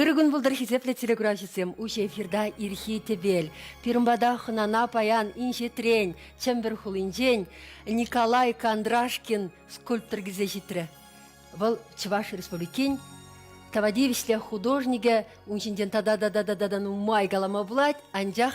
Ырӑ кун пултӑр, хисеплӗ телекуравҫӑсем! Уҫӑ эфирта ирхи тӗпел. Пирӗн пата хӑнана паян инҫетрен, Чӗмпӗр хулинчен Николай Кондрашкин скульптор килсе ҫитрӗ. Вӑл Чӑваш Республикин тава тивӗҫлӗ художникӗ. Ун ҫинчен тата-тата-тата нумай калама пулать, анчах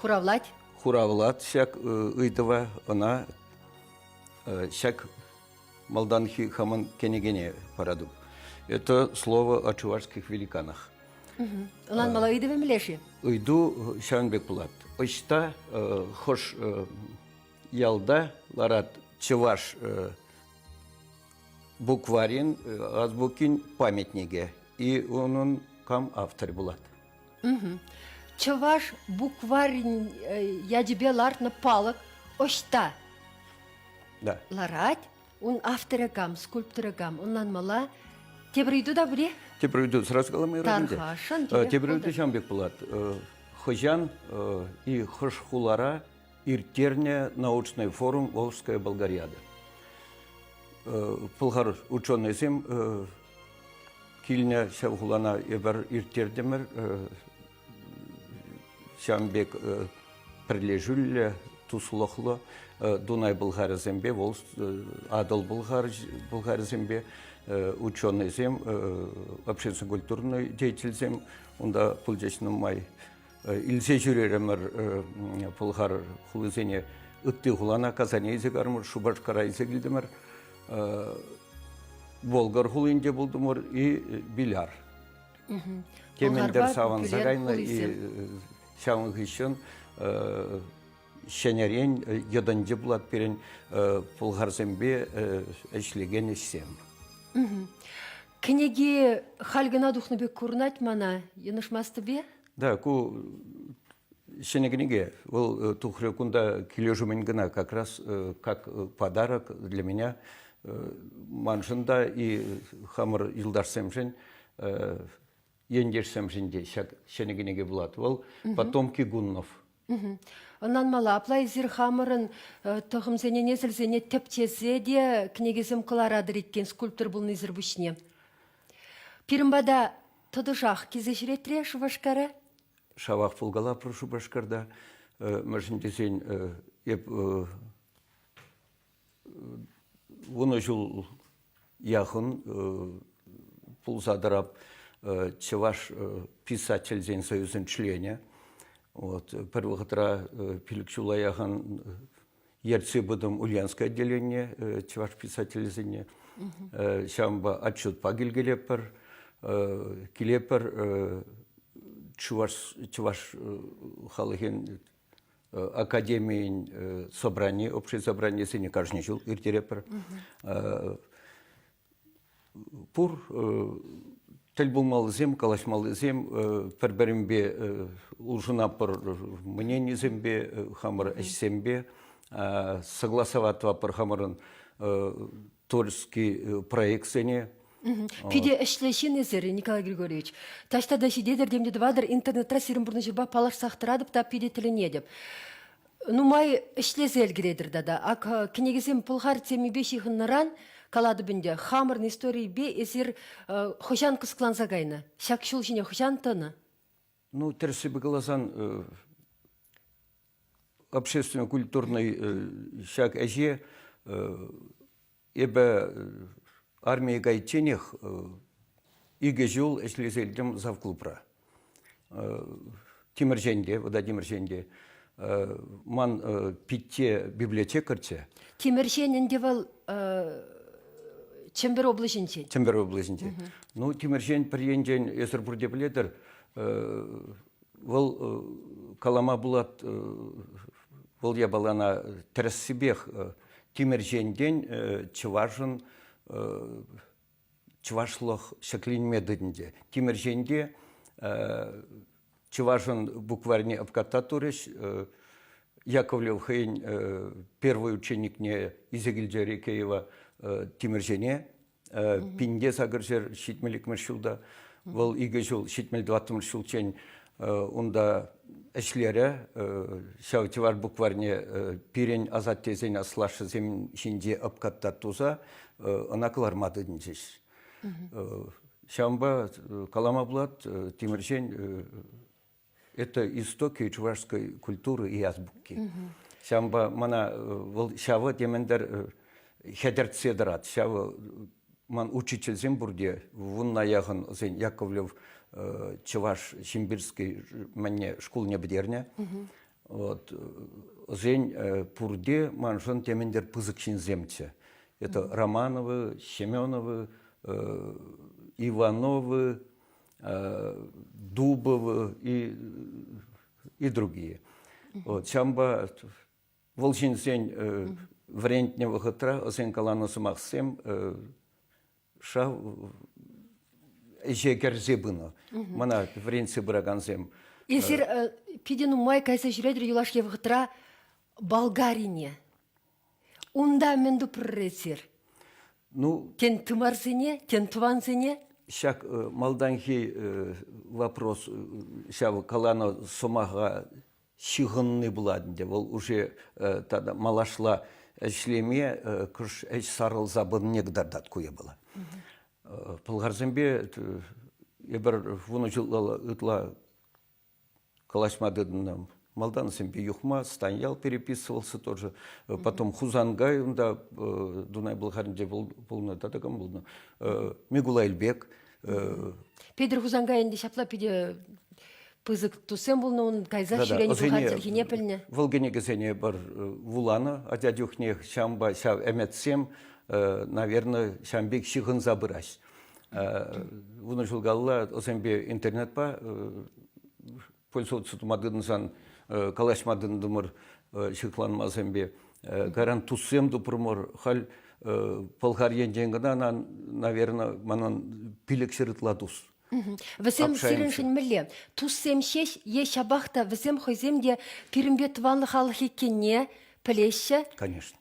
Хуравлать? Хуравлать ҫак ыйтӑва ӑна ҫак малтанхи хамӑн кӗнекене паратӑп. Это слово о чувашских великанах. Унан мала ыйтӑвӗ меле-ши? Ыйту ҫавӑн пек пулать. Ӑҫта хӑш ялта ларат чӑваш букварин азбукин памятнике и унӑн кам автор булат? Чӑваш букварӗн ячӗпе лартнӑ палӑк ӑҫта ларать? Ун авторӗ кам, скульпторӗ кам? Ӑнланмалла. Тепӗр ыйту та пур-и? Тепӗр ыйту сразу каламайрӑм ӗнтӗ. Тархашӑн. Тепӗр ыйту ҫавӑн пек пулать. Хӑҫан и хӑш хулара ирттернӗ научный форум Волжская Болгариада? Пӑлхар ученӑйсем Килне ҫав хулана эпир ирттертӗмӗр. Ҫавӑн пек пӗрлешӳллӗ, туслӑхлӑ Дунай-Пӑлхарӗсемпе вӑл Атӑл-Пӑлхарӗсемпе ученӑйсем, общественно-культурный деятельсем унта пулчӗҫ нумай. Илсе ҫӳрерӗмӗр Пӑлхар хулисене. Ытти хулана Казане илсе карӑмӑр, Шупашкара илсе килтӗмӗр. Болгар хулинче пултӑмӑр и Биляр. Темӗнтер савӑнса кайнӑ и ҫавӑн хыҫҫӑн ҫӗнӗрен йӑтӑнчӗ пулат пирӗн пӑлхарсемпе ӗҫлекен ӗҫсем. Кӗнеки халь кӑна тухнӑ пек курӑнать мана. Йӑнӑшмастӑп-и? Да, ку ҫӗнӗ кӗнеке. Вӑл э, тухрӗ кунта килӗшӳмӗн кӑна. Как раз э, как э, подарок для меня маншӑн та и хамӑр юлташсемшӗн ентешсемшӗн те ҫак ҫӗнӗ кӗнеке пулат. Вӑл потомки гуннов Ӑнланмалла, апла эсир хамӑрӑн тӑхӑмсене, несӗлсене тӗпчесе те кӗнекесем кӑларатӑр иккен скульптор пулнисӗр пуҫне. Пирӗн пата тӑтӑшах килсе ҫӳретре Шупашкара? Шавах пулкалапӑр Шупашкарта. Мӗншӗн тесен эп вунӑ ҫул яхӑн пулса тӑрап чӑваш писательсен союзӗн членӗ. Вот пӗр вӑхӑтра пилӗк ҫула яхӑн ертсе пытӑм Ульянское отделение чӑваш писателӗсене. Ҫавӑнпа отчетпа килкелеппӗр, килеппӗр чӑваш халӑхӗн академийӗн собрани, общее собранисене кашни ҫул ирттеретпӗр. Пур тӗл пулмаллисем, калаҫмаллисем пӗр-пӗринпе улшӑнатпӑр мненисемпе, хамӑр ӗҫсемпе. Согласоватпӑр хамӑрӑн тульский э, проектсене Питӗ ӗҫлӗ ҫыннисӗр, Николай Григорьевич. Таҫта та ҫитетӗр тем те тӑватӑр, интернетра сирӗн пурнӑҫӑрпа паллашсах тӑратӑп та питӗ тӗлӗнетӗп. Нумай ӗҫлесе ӗлкӗретӗр тата. Ак э, кӗнекесем пӑлхар темипе ҫыхӑннӑран, калатӑп ӗнтӗ, хамӑрӑн историйӗпе эсир э, хӑҫан кӑсӑкланса кайнӑ? Ҫак ҫул ҫине хӑҫан тӑнӑ? Ну, тӗрӗссипе каласан, общественно-культурный ҫак ӗҫе эпӗ армие кайичченех икӗ ҫул ӗҫлесе илтӗм завклубра. Тимӗрҫенте, Владимирҫенте Ман питте библиотекарьччӗ. Тимӗрҫен ӗнтӗ вӑл Чӗмпӗр облаҫӗнчен. Чӗмпӗр облаҫӗнчен. Ну, Тимӗрҫен пӗр енчен эсӗр пурте пӗлетӗр, вӑл калама пулать, вӑл япалана тӗрӗссипех Тимӗрҫентен чӑвашӑн чӑвашлӑх ҫӗкленме тытӑнчӗ. Тимӗрҫен те чӑвашӑн букварьне обкататурӗҫ. Яковлев хӑйӗн первый ученикне Изегильда Рекеева Тимӗрҫене пинте сакӑр ҫӗр ҫитмӗл икмӗш ҫулта, вӑл икӗ ҫул ҫитмӗл тӑваттӑмӗш ҫулччен унта ӗҫлерӗ. Ҫав чӑваш букварьне пирӗн асаттесен аслашшӗсем ҫинче ӑпкатта туса ӑна кӑларма тытӑнчӗҫ. Ҫавӑнпа калама пулать, Тимӗрҫен это истоки чувашской культуры и азбуки. Ҫавӑнпа мана вӑл ҫавӑ темӗнтер хӗтӗртсе тӑрать. Ҫавӑ Ман учительсем пурте, вунна яхӑн сен Яковлев Чӑваш Симбирский мӗнне шкулне пӗтернӗ. Вот. Сен пурте маншӑн темӗнтер пысӑк ҫынсемччӗ. Это Романовы, Семеновы, Ивановы, Дубовы и, и другие. Вот ҫавӑнпа Вӑл ҫынсен вӗрентнӗ вӑхӑтра ӑсен каланӑ сӑмахсем шав ӗҫе кӗрсе пынӑ. Мана вӗрентсе пыракансем. Эсир питӗ нумай кайса ҫӳретӗр юлашки вӑхӑтра Болгарине. Унта мӗн тупрӑр эсир? Ну, тен тымарсене, тен тӑвансене? Ҫак малтанхи вопрос ҫав каланӑ сӑмаха ҫыхӑнни пулать ӗнтӗ. Вӑл уже тата малашла ӗҫлеме кӑш ӗҫ сарӑлса пынине кӑтартать ку япала. Пӑлхарсемпе эпир вунӑ ҫулла ытла калаҫма тытӑннӑ. Малтансемпе Юхма, Станьял переписывался тоже. Потом Хусанкай унта Дунай Пӑлхарӗнче пулнӑ тата кам пулнӑ. Микулай Эльбек Петӗр Хусанкай ӗнтӗ ҫапла питӗ пысӑк туссем пулнӑ унӑн кайса ҫӳренӗ пукан пӗлнӗ. Вӑл кӗнекесене пӗр вуланӑ, атя чухне ҫампа ҫав ӗмӗтсем, наверное, ҫам пек ҫыхӑнса пырать. Вунӑ ҫул калла ӑсемпе интернетпа пульсот сутма тытӑнсан калаҫма тытӑнтӑмӑр ҫыхланмасемпе. Кайран туссем тупрӑмӑр. Халь Пӑлхар енчен кӑна, наверное, манан пилӗкҫӗр ытла тус. Вӗсем сирӗншӗн мӗнле? Туссем ҫеҫ е ҫапах та вӗсем хӑйсем те пирӗнпе тӑван халӑх иккенне пӗлеҫҫӗ? Конечно.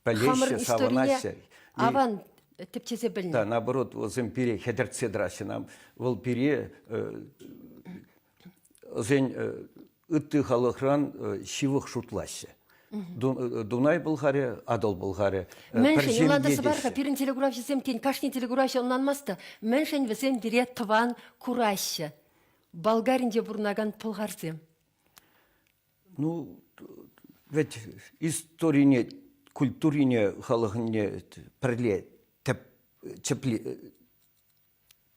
Пӗлеҫҫӗ, савӑнаҫҫӗ. Аван тӗпчесе пӗлнӗ. Да, наоборот, вӗсем пире хӗтӗртсе тӑраҫҫӗ. Вӑл пире вӗсен ытти халӑхран ҫывӑх шутлаҫҫӗ. Дунай Пӑлхарӗ, Атӑл Пӑлхарӗ. Мӗншӗн юлантарса пар-ха пирӗн телекуравҫӑсем, тен, кашни телекуравҫӑ ӑнланмасть та, мӗншӗн вӗсем пире тӑван кураҫҫӗ? Болгаринче пурӑнакан пӑлхарсем. Ну, вӗт историне, культурине халӑхне пӗрле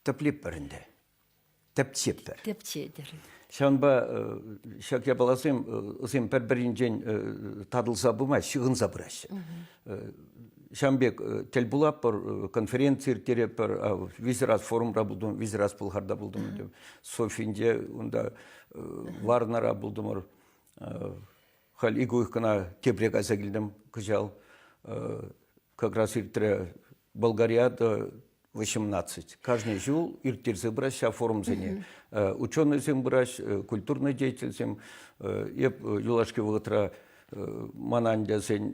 тӗплетпӗр ӗнтӗ, тӗпчетпӗр. Тӗпчетӗр. Ҫавӑнпа ҫак япаласем пӗр-пӗринчен татӑлса пымасть, ҫыхӑнса пыраҫҫӗ. Ҫавӑн пек тӗл пулатпӑр, конференци ирттеретпӗр, виҫӗ раз форумра пултӑм, виҫӗ раз Пӑлхарта пултӑм, Софинче унта Варнара пултӑмӑр. Халь ик уйӑхкана тепре кайса килтӗм кӑҫал. Как раз иртрӗ Болгария до 18. Каждый ҫул ирттерсе пырать ҫав форумсене. Ученӑйсем пырать, культурный деятельсем. Эп юлашки вӑхӑтра мана ӗнтӗ сен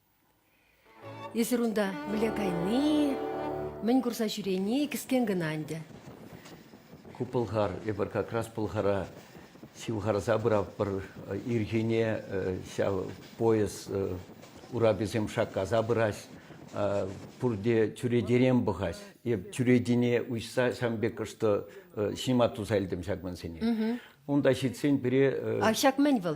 Эсир унта мӗнле кайни, мӗн курса ҫӳрени кӗскен кӑна ӗнтӗ. Ку пӑлхар, эпир как раз пӑлхара ҫывхарса пыратпӑр. Ирхине ҫав поезд ураписем шаккаса пырать. Пурте чӳречерен пӑхать. Эп чӳречине уҫса ҫавӑн пек кӑштӑ ҫима туса илтӗм ҫак мансене. Унта ҫитсен пире... А ҫак мӗн вӑл?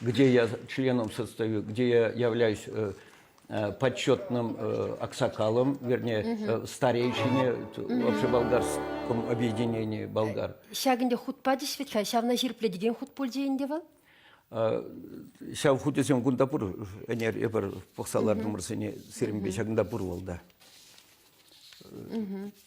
где я членом состою, где я являюсь почетным аксакалом, вернее, старейшине вообще болгарском объединении болгар. ҫакӑнте хут пачӗҫ вӗт-ха, ҫавна ҫирӗпле текен хут пуль тейӗнте вӑл? Ҫав хутӗсем кунта пур, ӗнер эпир пӑхса лартӑмӑр сене сирӗнпе ҫакӑнта пур вӑл да.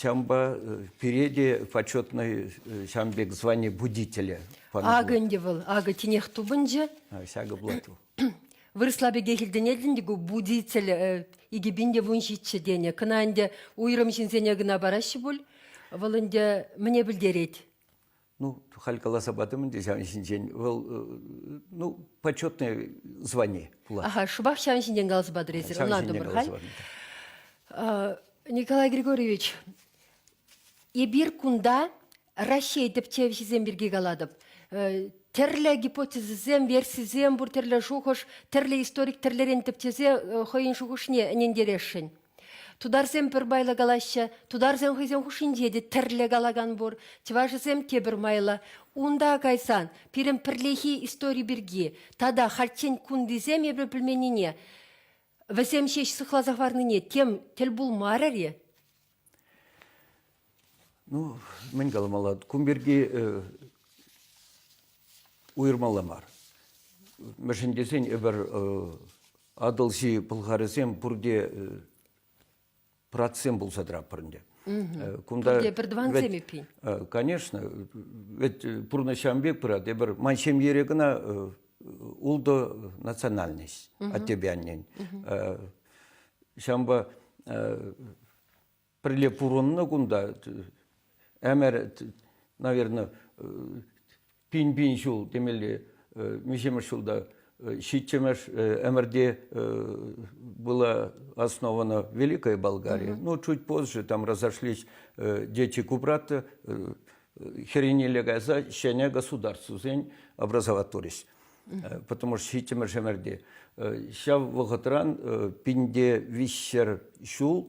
Ҫавӑнпа пире те почетный ҫавӑн пек звание будителя Акӑ ӗнтӗ вӑл, акӑ тинех тупӑнчӗ. Ҫакӑ плату. Вырӑсла пекех илтӗнетӗн те ку будитель икӗ пин те вун ҫиччӗ тенӗ. Кӑна ӗнтӗ уйрӑм ҫынсене кӑна параҫҫӗ пуль. Вӑл ӗнтӗ мӗне пӗлтерет? Ну, халь каласа патӑм ӗнтӗ ҫавӑн ҫинчен. Вӑл, ну, почетное звание пулать. Ага, шӑпах ҫавӑн ҫинчен каласа патӑр эсир, ӑнлантӑмӑр халь. Николай Григорьевич, эпир кунта Раҫҫей тӗпчевҫисем пирки калатӑп. Тӗрлӗ гипотезӑсем, версисем пур, тӗрлӗ шухӑш, тӗрлӗ историк тӗрлӗрен тӗпчесе хӑйӗн шухӑшне ӗнентересшӗн. Тутарсем пӗр майлӑ калаҫҫӗ, тутарсем хӑйсен хушшинче те тӗрлӗ калакан пур, чӑвашӗсем те пӗр майлӑ. Унта кайсан пирӗн пӗрлехи истори пирки тата хальччен кунтисем эпир пӗлменнине, вӗсем ҫеҫ сыхласа хӑварнине тем тӗл пулмарӗр-и? Ну, мӗн каламалла, кун пирки уйӑрмалла мар. Мӗншӗн тесен эпир Атӑлҫи пӑлхарӗсем пурте пратсем пулса тӑратпӑр ӗнтӗ. Кунта пурте пӗр тӑвансем эппин. Конечно, ведь пурнӑҫам пек пырать. Эпир ман ҫемьере кӑна ултӑ национальность, аттепе аннен. Ҫавӑнпа пӗрле пурӑннӑ кунта ӗмӗр, наверное, пин-пин ҫул темелле миҫемӗш ҫулта ҫиччӗмӗш ӗмӗрте была основана Великая Болгария. Ну, чуть позже там разошлись дети Кубрата, херенелле кайса ҫӗнӗ государствосен образоватворись. Потому что ҫиччӗмӗш ӗмӗрте ҫав вӑхӑтран пинте виҫҫӗр ҫул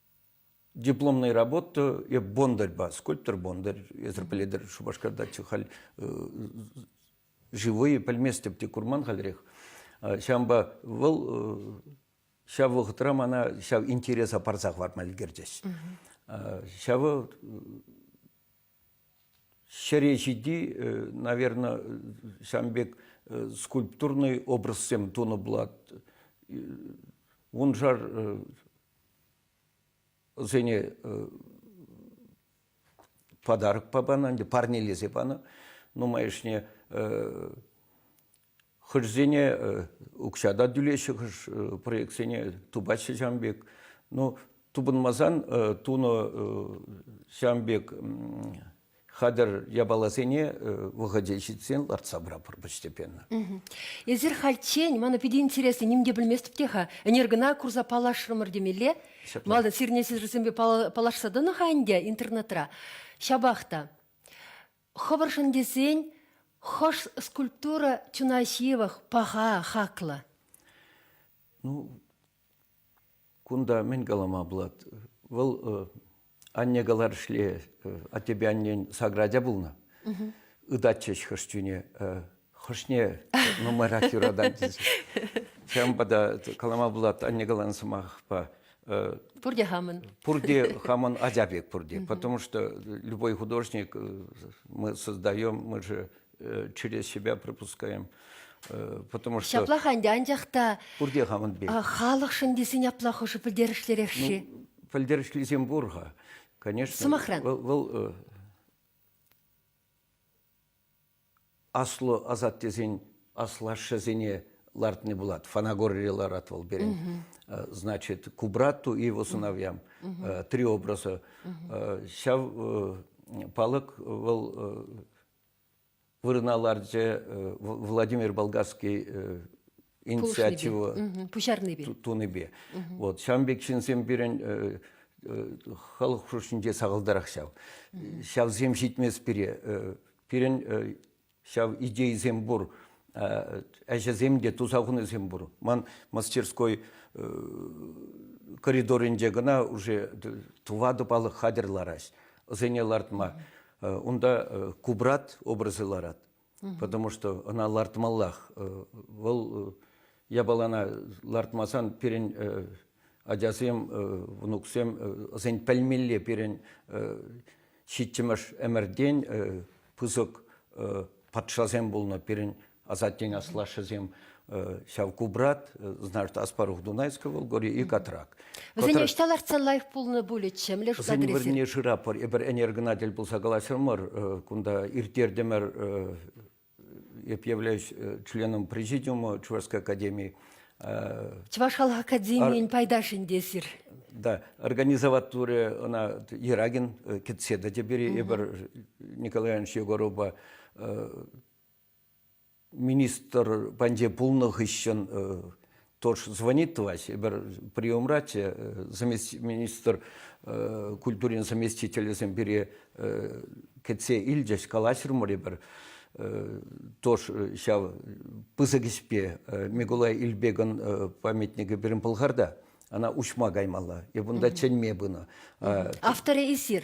Дипломная работа, я бондарь скульптор Бондарь, эсӗр пӗлетӗр, Шупашкарта халь живые пӗлместӗп те курман хальрех. Ҫавӑнпа вӑл ҫав вӑхӑтра мана ҫав интереса парса хӑварма ӗлкӗрчӗҫ. Ҫавӑ Ҫӗре ҫити, наверное, ҫавӑн пек скульптурный образсем тунӑ пулать. Вуншар ӑсене подарок панӑ, ӗнтӗ парнелесе панӑ. Нумайӑшне Хӑшсене укҫа та тӳлеҫҫӗ, хӑш проектсене тупаҫҫӗ ҫавӑн пек. Ну, тупӑнмасан тунӑ ҫавӑн пек хатӗр япаласене вӑхӑчӗ ҫитсен лартса пыратпӑр постепенно. Эсир хальччен, мана питӗ интересно, ним те пӗлместӗп те-ха, ӗнер кӑна курса паллашрӑмӑр темелле. Малтан сирӗне сирӗнсемпе паллашса тӑнӑ-ха ӗнтӗ интернетра. Ҫапах та Хӑвӑршӑн тесен хӑш скульптура чуна ҫывӑх, паха, хаклӑ? Ну, кунта мӗн калама пулать? Вӑл анне каларӗшле аттепе аннен саграчӗ пулнӑ. Ытатчӗҫ хӑш чуне Хӑшне нумайрах юратать тесе. Ҫавӑнпа та калама пулать анне каланӑ сӑмахпа. Пурте хамӑн. Пурте хамӑн ача пек пурте. Потому что любой художник мы создаем, мы же через себя пропускаем. Потому что ҫаплах ӗнтӗ, анчах та пурте хамӑн пек. Халӑхшӑн тесен апла хӑшӗ пӗлтерӗшлӗрех-ши? Пӗлтерӗшлисем пур-ха, конечно. Сӑмахран. Вӑл аслӑ асаттесен аслашшӗсене лартни пулать. Фанагорре ларать вӑл пирӗн. Значит, к брату и его сыновьям три образа. Ҫав палӑк вӑл вырӑна ларчӗ Владимир Болгарский инициатива пуҫарнипе тунипе вот ҫавӑн пек ҫынсем пирӗн халӑх хушшинче сахалтарах ҫав ҫавсем ҫитмест пире пирӗн ҫав идейӑсем пур ӗҫӗсем те туса хунисем пур ман мастерской коридорӗнче кӑна уже тӑватӑ палӑк хатӗр лараҫ ӑсене лартма унта кубрат образӗ ларать потому что ӑна лартмаллах. Вӑл япалана лартмасан пирӗн ачасем, внуксем ӑсен пӗлмелле пирӗн ҫиччӗмӗш ӗмӗртен пысӑк патшасем пулнӑ, пирӗн асаттен аслашшӗсем. ҫав кубрат, значит, аспарух Дунайского вӑл горе и Катрак. Вӗсене ӑҫта лартса лайӑх пулнӑ пулӗччӗ, млеш Вӗсен вырӑнне шырапӑр, эпир энергонатель пулса калаҫрӑмӑр, кунта ирттертӗмӗр, эп являюсь членом президиума Чувашской академии. Чӑваш халӑх академийӗн пайташӗнте эсир. Да, организоватуре она Ерагин кетседа теперь эпир Николай Иванович Егоровпа министр патне пулнӑ хыҫҫӑн тоже звонит товарищ, эпир приемра те министр культурин заместителӗсем пире кӗтсе илчӗҫ, калаҫрӑмӑр эпир тоже ҫав пысӑк ӗҫпе Микулай Ильбегӑн памятникӗ пирӗн Пӑлхарта, ана уҫма каймалла, эп унта чӗнме пынӑ. Авторӗ эсир?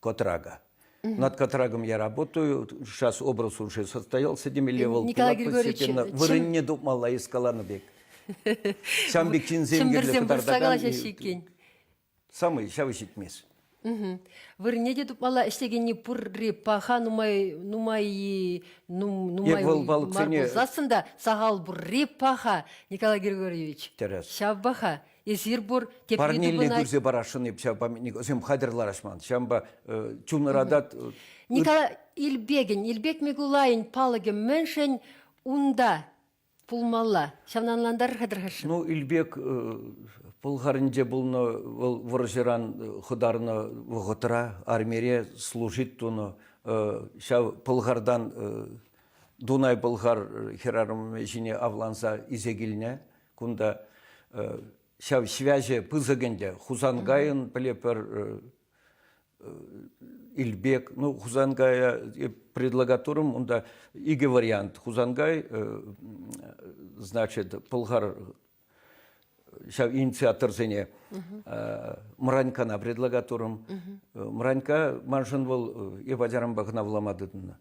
Котрага. Над Котрагом я работаю, сейчас образ уже состоялся темелле вӑл. Николай Григорьевич, вырӑнне тупмалла из каланӑ пек. Ҫам пек чинсем кирлӗ кӑтартакан. Самый ҫавӑ ҫитмес. Вырне те тупмалла ӗҫлекенни пурри паха нумай нумай нумай мар пулсассӑн та сахал пурри паха Николай Григорьевич. Ҫав паха. Эсир пур, тепри те Парнелле пынать. пырсе парасшӑн эп ҫав памятникӑсем хатӗр ларас ман. Ҫавӑнпа э, чунӑратат... Э, Николай Ильбегин, Ильбек Микулайӗн палӑкӗ мӗншӗн унта пулмалла? Ҫавна ӑнлантарӑр-ха Ну, Ильбек э, Пӑлхарӗнче пулнӑ, вӑл вӑрҫӑран э, хӑтарнӑ вӑхӑтра армире служить тунӑ. Э, ҫав Пӑлхардан Дунай-Пӑлхар хӗрарӑмӗ ҫине авланса исе килнӗ. Кунта ҫав связи пысӑк ӗнтӗ. Хусанкайӑн пӗлепӗр Илбек, ну Хусанкая предлагатурым унта икӗ вариант. Хусанкай, значит, пӑлхар ҫав инициаторсене Мранькана предлагатурым. Мранька маншӑн вӑл эп ачаранпа кӑна вулама тытӑннӑ.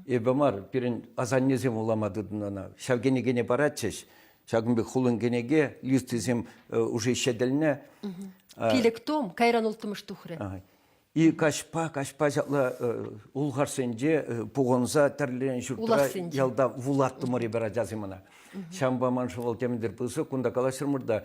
Эпӗ мар, пирӗн асаннесем вулама тытӑннӑ ӑна. Ҫав кӗнекене паратчӗҫ. Ҫакӑн пек хулӑн кӗнеке, листисем уже ҫӗтӗлнӗ. Пилӗк том, кайран улттӑмӗш тухрӗ. И каҫпа, каҫпа ҫапла улхарсенче пухӑнса тӗрленӗ ҫуртра ялта вулаттӑмӑр эпир ачасем ӑна. Ҫавӑнпа ман шӑвӑл темӗнтер пысӑк, кунта калаҫрӑмӑр та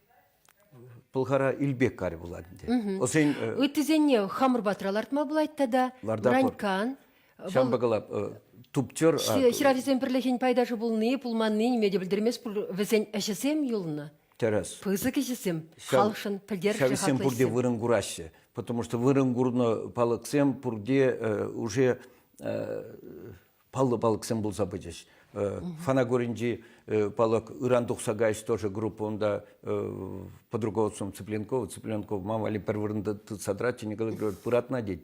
Пӑлхара Илпеккарь пулать ӗнтӗ. Ӑсен ыттисене хамӑр патра лартма пулать тата. Бранькан. Ҫавӑнпа кала туптер. Хӗрарисен пӗрлӗхӗн пайташӗ пулни, пулманни ниме те пӗлтермест пуль. Вӗсен ӗҫӗсем юлнӑ. Тӗрӗс. Пысӑк ӗҫӗсем, халӑхшӑн пӗлтерӗшлӗ хаклӑ ӗҫсем. Ҫавсем пурте вырӑн кураҫҫӗ, потому что вырӑн курнӑ палӑксем пурте уже паллӑ палӑксем пулса пычӗҫ. Фанагоринчи палӑк ыран тухса кайӗҫ тоже группа унта под руководством Цыпленкова. Цыпленков мам валли пӗр вырӑнта тытса тӑратчӗ, Николай Григорьевич пыратна тет.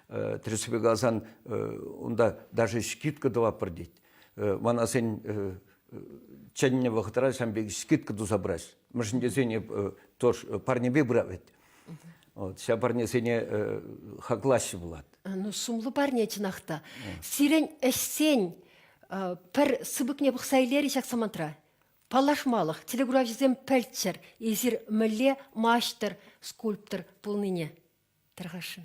Тӗрӗссипе каласан, унта даже скидка тӑваппӑр тет. Мана сен чӗннӗ вӑхӑтра сан пек скидка туса пыраҫ. Мӗншӗн тесен тоже парнепе пырав вӗт. Вот, ҫав парнесене э, хаклаҫҫӗ пулат. Ну, сумлӑ парне чӑнах та. Сирен ӗҫсен э, пӗр сыпӑкне пӑхса илер ҫак самантра. Паллашмалӑх, телекуравҫӑсем пӗлччӗр, эсир мӗнле маҫтӑр, скульптор пулнине. Тархашшын.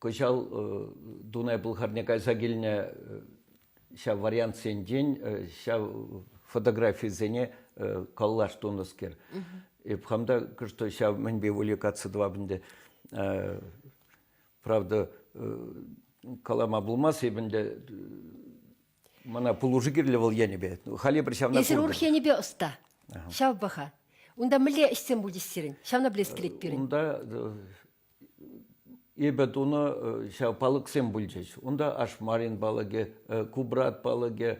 Кӑҫал Дунай-Пӑлхарне кайса килнӗ ҫав вариантсенчен ҫав фотографисене коллаж тунӑскер. Эп хам та что ҫав мӗнпе увлекаться тӑвап ӗнтӗ. Правда, калама пулмасть эп ӗнтӗ мана пулӑшу кирлӗ вӑл енӗпе. Халӗ пӗр ҫавна. Хирург енӗпе ӑста. Ҫав паха. Унта мӗнле ӗҫсем пулчӗҫ сирӗн? Ҫавна пӗлес килет пирӗн. Унта Эпӗ тунӑ ҫав палӑксем пулчӗҫ. Унта ашмарин палӑкӗ, кубрат палӑкӗ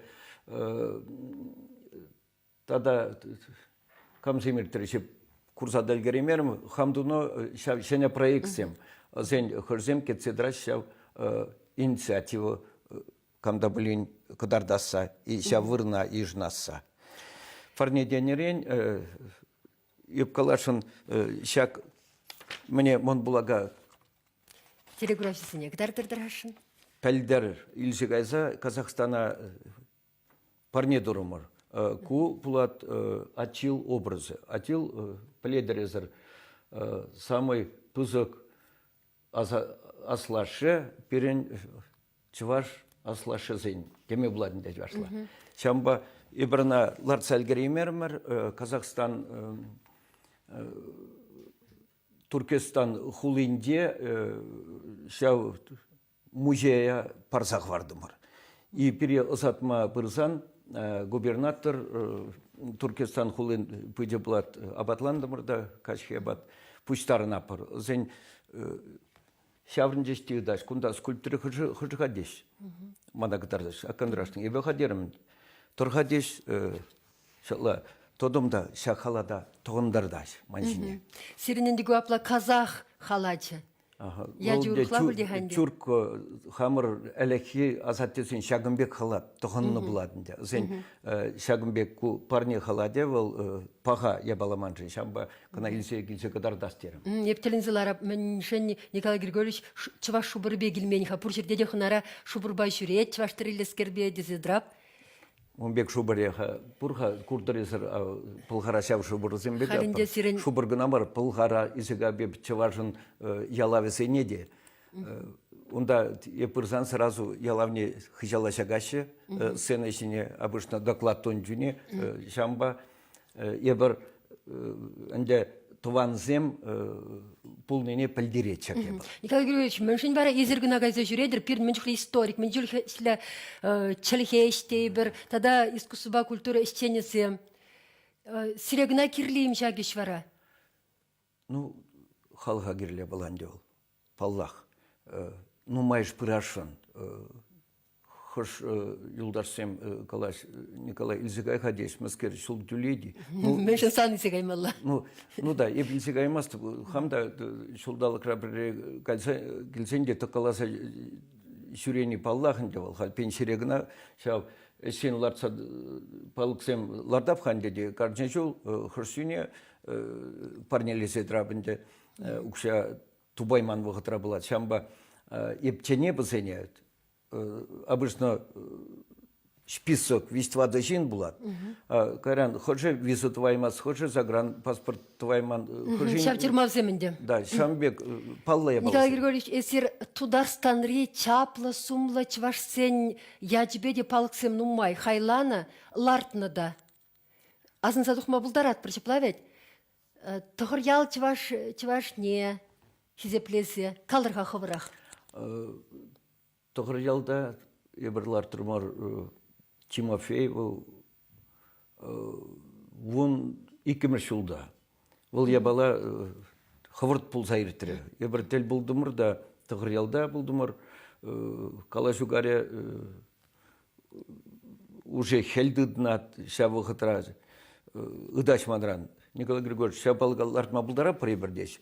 тата камсем иртрӗҫ курса та ӗлкӗреймерӗм. Хам тунӑ ҫав ҫӗнӗ проектсем, вӗсен хӑрсем кӗтсе тӑраҫҫӗ ҫав инициатива кам та пулин кӑтартасса, ҫав вырӑна йышӑнасса. Парне тенӗрен Юпкалашӑн ҫак мӗне мӑн пулака Телеграфҫӑсене кӑтартӑр-тӑрасшӑн? Пӗлтӗр илсе кайса Казахстана парне турӑмӑр. Ку пулат Атил образӗ. Атил пӗлетӗресӗр самый пысӑк аслашшӗ пирӗн чӑваш аслашшӗсен теме пулатӑн тет варсла. Ҫавӑнпа эпир ӑна лартса ӗлкӗреймерӗмӗр Казахстан Туркестан хулинче ҫав музея парса хӑвартӑмӑр. пире ӑсатма пырсан губернатор Туркестан хулин пычӗ пулат апатлантӑмӑр та каҫхи апат пуҫтарӑнапӑр. Сен ҫаврӑнчӗҫ те ытаҫ кунта скульптура хӑшӗ-ха теҫ. Мана кӑтартаҫ, аккандрашны эпӗ ха терӗм. Тӑр-ха теҫ, ҫала тотом та ҫак халата тӑхӑнтартаҫ ман ҫине. Сирӗн ӗнтӗ ку апла казах халачӗ. Чуркка хамӑр ӗлӗкхи асаттесен ҫакӑн пек халат тӑхӑннӑ пулать ӗнтӗ. Вӗсен ҫакӑн пек ку парне халате вӑл паха япаламан-ши ҫавӑнпа кӑна илсе килсе кӑтартас терӗм. Эп тӗлӗнсе ларап мӗншӗн Николай Григорьевич чӑваш шупӑрӗпе килмен-ха пур ҫӗрте те хӑнара шупӑрпа ҫӳрет чӑваш тӗреллескерпе тесе тӑрап. Ун пек шупӑрех пур-ха куртӑрисӗр Пӑлхара ҫав шупӑрсемпе те сирӗн... шупӑр кӑна мар Пӑлхара Исӗкапи чӑвашӑн ялавӗсене те унта эп пырсан сразу ялавне хыҫала ҫакаҫҫӗ сцена ҫине обычно доклад тунӑ чухне ҫавӑнпа эпир ӗнтӗ тӑвансем пулнине пӗлтеретчӗр тепӗр. Николай Григорьевич, мӗншӗн вара эсир кӑна кайса ҫӳретӗр пирӗн мӗн чухлӗ историк, мӗн чухлӗ чӗлхе ӗҫтейпӗр тата искусствӑпа культура ӗҫченӗсем. Сире кӑна кирлӗ-им ҫак ӗҫ вара? Ну, халӑха кирлӗ пуль ӗнтӗ вӑл, паллах. Нумайӑш пырасшӑн. Хӑш юлташсем калаҫ, Николай, илсе кай-ха теҫ, мӗскер ҫул тӳлет-и? Мӗншӗн сан илсе каймалла? Ну, ну да, эп илсе каймастӑп. Хам та ҫулталӑкра пӗрре кайса килсен те тӑккаласа ҫӳрени паллах ӗнтӗ вӑл. Халь пенсире кӑна ҫав ӗҫсен лартса палӑксем лартап-ха ӗнтӗ те, кашни ҫул хӑш сӳне парнелесе тӑрап ӗнтӗ укҫа тупайман вӑхӑтра пулать. Ҫавӑнпа ептене пӑсене обычно список виҫ-тӑватӑ ҫын пулат. Кайран хӑшӗ виза тӑваймасть, хӑшӗ загран паспорт тӑвайман. Ҫав тюрьмавсем ӗнтӗ. Да, ҫавӑн пек паллӑ япаласем. Николай Григорьевич, эсир Тутарстанри чаплӑ сумлӑ чӑвашсен ячӗпе те палӑксем нумай хайланӑ, лартнӑ та. Асӑнса тухма пултаратпӑр ҫапла вӗт. Тӑхӑр ял чӑваш чӑвашне хисеплесе калӑр-ха хӑвӑрах. Тӑхӑр ялта эпир лартрӑр мар Тимофей вӑл вун иккӗмӗш ҫулта Вӑл япала хӑвӑрт пулса иртрӗ. Эпир тӗл пултӑмӑр та, Тӑхӑрьялта пултӑмӑр. Калаҫу карӗ уже хӗл тытнӑ ҫав вӑхӑтра. Ытаҫ манран. Николай Григорьевич, ҫапалка лартма пултаратпӑр эпир теҫ.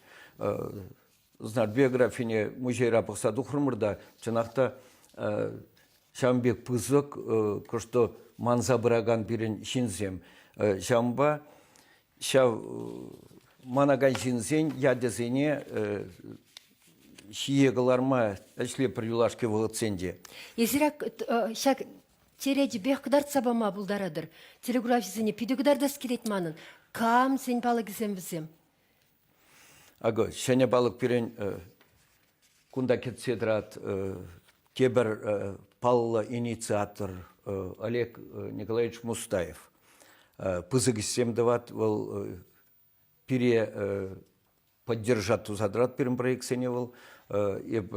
Знак биографине музейра пӑхса тухрӑмӑр та, чӑнах та ҫавӑн пек пысӑк, кӑштӑ манса пыракан пирӗн ҫынсем. Ҫавӑнпа ҫав манакан ҫынсен ячӗсене ҫие кӑларма ӗҫлепӗр юлашки вӑхӑтсен те. Эсир ҫак черечӗпех кӑтартса пама пултаратӑр. Телеграфҫӑсене питӗ кӑтартас килет манӑн. Кам сен палӑкӗсем вӗсем? Акӑ ҫӗнӗ палӑк пирӗн кунта кӗтсе тӑрать тепӗр паллӑ инициатор Олег Николаевич Мустаев. Пысӑк ӗҫсем тӑвать вӑл пире поддержать туса тӑрать пирӗн проектсене вӑл. Эп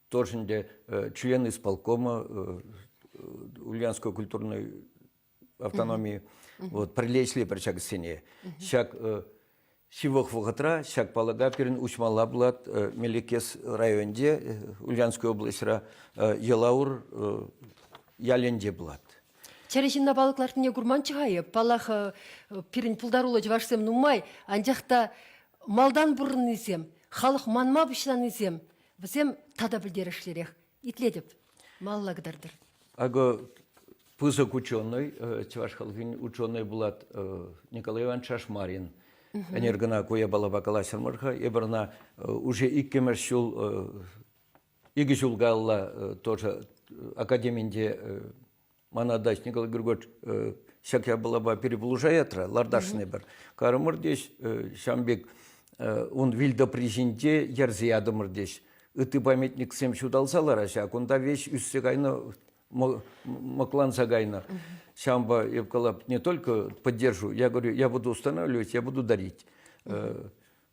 тоже ӗнтӗ член исполкома Ульяновского культурной автономи вот прилечли пӗр ҫакӑссене. Ҫак ҫывӑх вӑхӑтра ҫак палӑка пирӗн уҫмалла пулать Мелекес районӗнче, Ульянская облаҫра, Елаур ялӗнче пулать. Чӗрӗ ҫынна палӑк лартнине курманччӗ-ха эп. Паллах, пирӗн пултаруллӑ чӑвашсем нумай, анчах та малтан пурӑннисем, халӑх манма пуҫланисем, вӗсем тата пӗлтерӗшлӗрех. Итлетӗп, малла кӑтартӑр. Акӑ пысӑк ученый, чӑваш халӑхӗн ученый булат Николай Иванович Шашмарин. Ӗнер кӑна ку япалапа калаҫрӑмӑр-ха. Эпир ӑна уже иккӗмӗш ҫул, икӗ ҫул калла тоже академинче Мана дачник Григорьевич ҫак япалапа перепулӑшаятра ларташсене пӗр. Карӑмӑр теҫ, ҫам пек ун вилтӑпри ҫинче ерсе ятӑмӑр теҫ. Ытти памятниксем ҫуталса лараҫа, кунта веҫ ӳссе кайнӑ, мӑкланса кайнӑ. Ҫампа я сказал, не только поддержу, я говорю, я буду устанавливать, я буду дарить.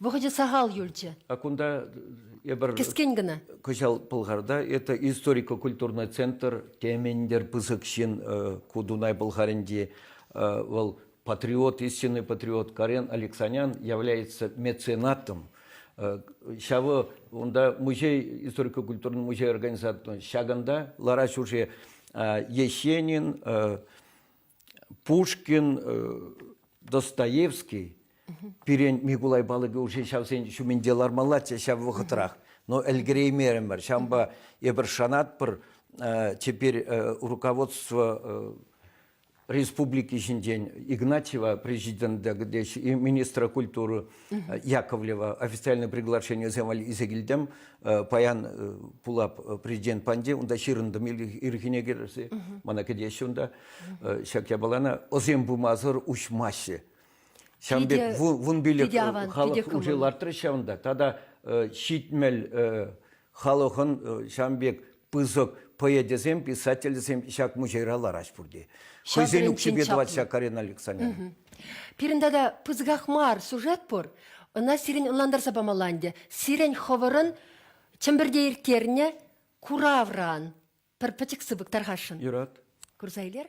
Вӑхӑчӗ сахал юлчӗ. А кунта эпир кӗскен кӑна. Кӑҫал Пӑлхарта это историко-культурный центр темендер пысӑк ҫын ку Дунай Пӑлхарӗнчи вӑл патриот, истинный патриот Карен Алексанян является меценатом. Ҫавӑ унта музей, историко-культурный музей организатор ҫакӑнта Лара Чужи Ещенин Пушкин, Достоевский пирӗн Микулай Балыков урҫи ҫавсен ҫумӗнче лармаллаччӗ ҫав вӑхӑтрах. Но ӗлкӗреймерӗмӗр. Ҫавӑнпа эпир шанатпӑр теперь руководство республики ҫинчен Игнатьева президента, где министра культуры Яковлева официальное приглашение валли исе килдем, паян пулап президент панде, унда ҫырӑнтым ирхине кӗрсе, мана кӗтеҫҫӗ унда. Ҫак япалана озем пымасӑр уҫмаҫҫӗ. Ҫавӑн пек вун пилӗк халӑх уже лартрӗ ҫавӑнта. Тата ҫитмел халӑхӑн ҫавӑн пек пысӑк поэтӗсем, писательсем ҫак музейра ларать пурте. Хӑйсен укҫипе тӑвать ҫак Карина Александрина. Пирӗн тата пысӑках мар сюжет пур. Ӑна сирӗн ӑнлантарса памалла ӗнтӗ. Сирӗн хӑвӑрӑн Чӗмпӗрте ирттернӗ куравран пӗр пӗчӗк сыпӑк тархасшӑн. Юрат. Курса илер?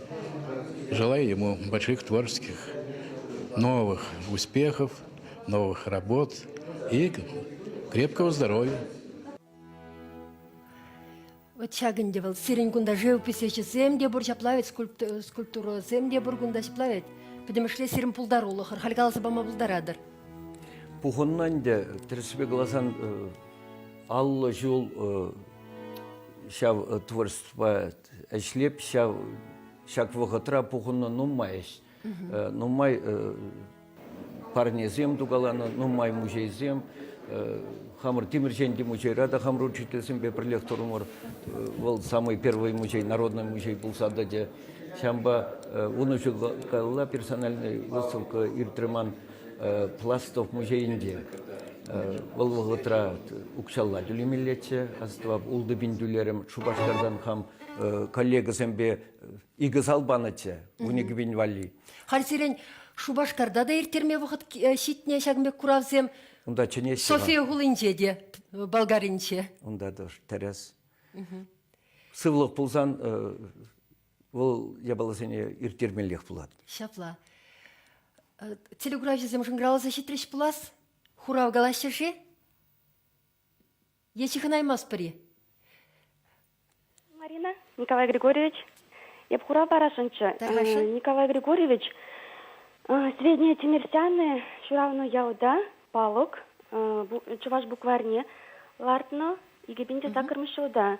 Желаю ему больших творческих новых успехов, новых работ и крепкого здоровья. Вот ҫак ӗнтӗ вӑл сирӗн кунта живописечӗсем те пур, ҫапла вӗт, скульптурӑсем те пур кунта ҫапла вӗт. Пӗтӗмӗшле сирӗн пултарулӑхӑр, халь каласа пама пултаратӑр. Пухӑннӑ ӗнтӗ, тӗрӗссипе каласан, аллӑ ҫул ҫав творчествӑпа ӗҫлеп ҫав ҫак вӑхӑтра пухӑннӑ нумай нумай парнесем тукаланӑ нумай музейсем хамӑр Тимӗрҫенти музейра та хамӑр учительсемпе пӗрлех турӑмӑр вӑл самый первый музей народный музей пулса тӑчӗ ҫавӑнпа ун ҫул каялла персональный выставка иртрӗ ман Пластов музейӗнче вӑл вӑхӑтра укҫалла тӳлемеллеччӗ, астӑвап, ултӑ пин тӳлерӗм. Шупашкартан хам коллегӑсемпе икӗ зал панӑччӗ, вун икӗ пин валли. Халь сирӗн Шупашкарта та ирттерме вӑхӑт ҫитнӗ ҫакӑн пек куравсем. Унта чӗнеҫҫӗ. София хулинче те, Болгаринче. Унта тоже тӗрӗс. Сывлӑх пулсан вӑл япаласене ирттермеллех пулать. Ҫапла. Телеграфҫӑсем шӑнкӑравласа ҫитрӗҫ пулас? Хурав калаҫҫӗ-ши? Е ҫыхӑнаймастпӑр-и? Марина Николай Григорьевич, эп хурав парасшӑнччӗ. Николай Григорьевич, Сведения Тимирсяны ҫыравнӑ ялта палӑк чӑваш букварьне лартнӑ икӗ пин те саккӑрмӗш ҫулта.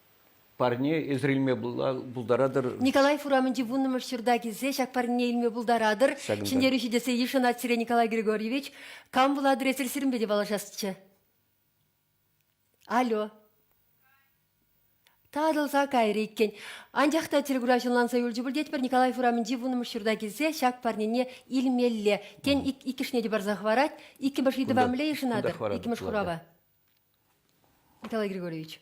Парне эсир илме пултаратӑр. Николаев урамӗнчи вуннӑмӗш ҫурта килсе ҫак парне илме пултаратӑр. Ҫӗнтерӳҫӗ тесе йышӑнать сире Николай Григорьевич. Кам вула адресӗр сирӗнпе те паллашасчӗ. Алло. Татӑлса кайрӗ иккен. Анчах та телекурав ҫӑнланса юлчӗ пуль тетпӗр, Николаев урамӗнчи вуннӑмӗш ҫурта килсе ҫак парнене илмелле. Тен, иккӗшне те парса хӑварать. Иккӗмӗш ыйтӑва мӗнле йышӑнатӑр? Иккӗмӗш хурава. Николай Григорьевич,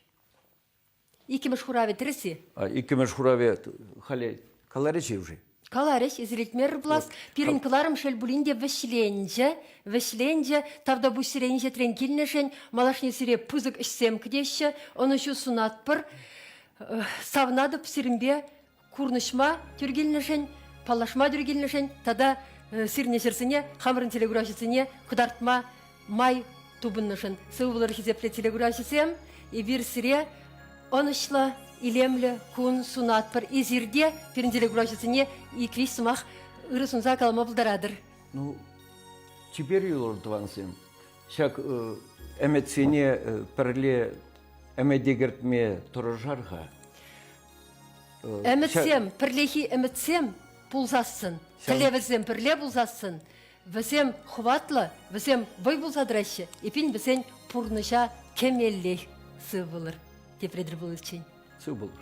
иккӗмӗш хуравӗ тӗрӗс-и? Иккӗмӗш хуравӗ халӗ каларӗҫ-и уже? Каларӗҫ, извлетмер плас. Пирӗн кӑларӑм шел пулин те вӗҫленчӗ, вӗҫленчӗ. Тавтапуҫ сирен ӗҫетрен килнӗшӗн. Малашне сире пысӑк ӗҫсем кӗтеҫҫӗ, ӑнӑҫу сунатпӑр. Савнатӑп сирӗнпе курнӑҫма тӳр килнӗшӗн, паллашма тӳр килнӗшӗн тата сирнӗ ҫӗрсене, хамӑрӑн телеграфҫӑсене кӑтартма май тупӑннӑшӑн сывӑ пулӑр хисеплӗ телеграфҫӑсем. Эпир сире ӑнӑҫлӑ, илемлӗ кун сунатпӑр. Эсир те пирӗн телеграфҫӑсене икриш сӑмах ырӑ сунса калама пултаратӑр. Ну, теперь, юлӑр тӑвансем, ҫак ӗмӗтсене пӗрле ӗмӗте кӗртме тӑрӑшар-ха. Ӗмӗтсем, пӗрлехи ӗмӗтсем пулсассӑн, тӗллевӗсем пӗрле пулсассӑн, вӗсем хӑватлӑ, вӗсем вӑй пулса тӑраҫҫӗ. Эпин вӗсен пурнӑҫа кӗмеллех сывпулӑр, тепре тӗл пуличчен. Сывпулӑр.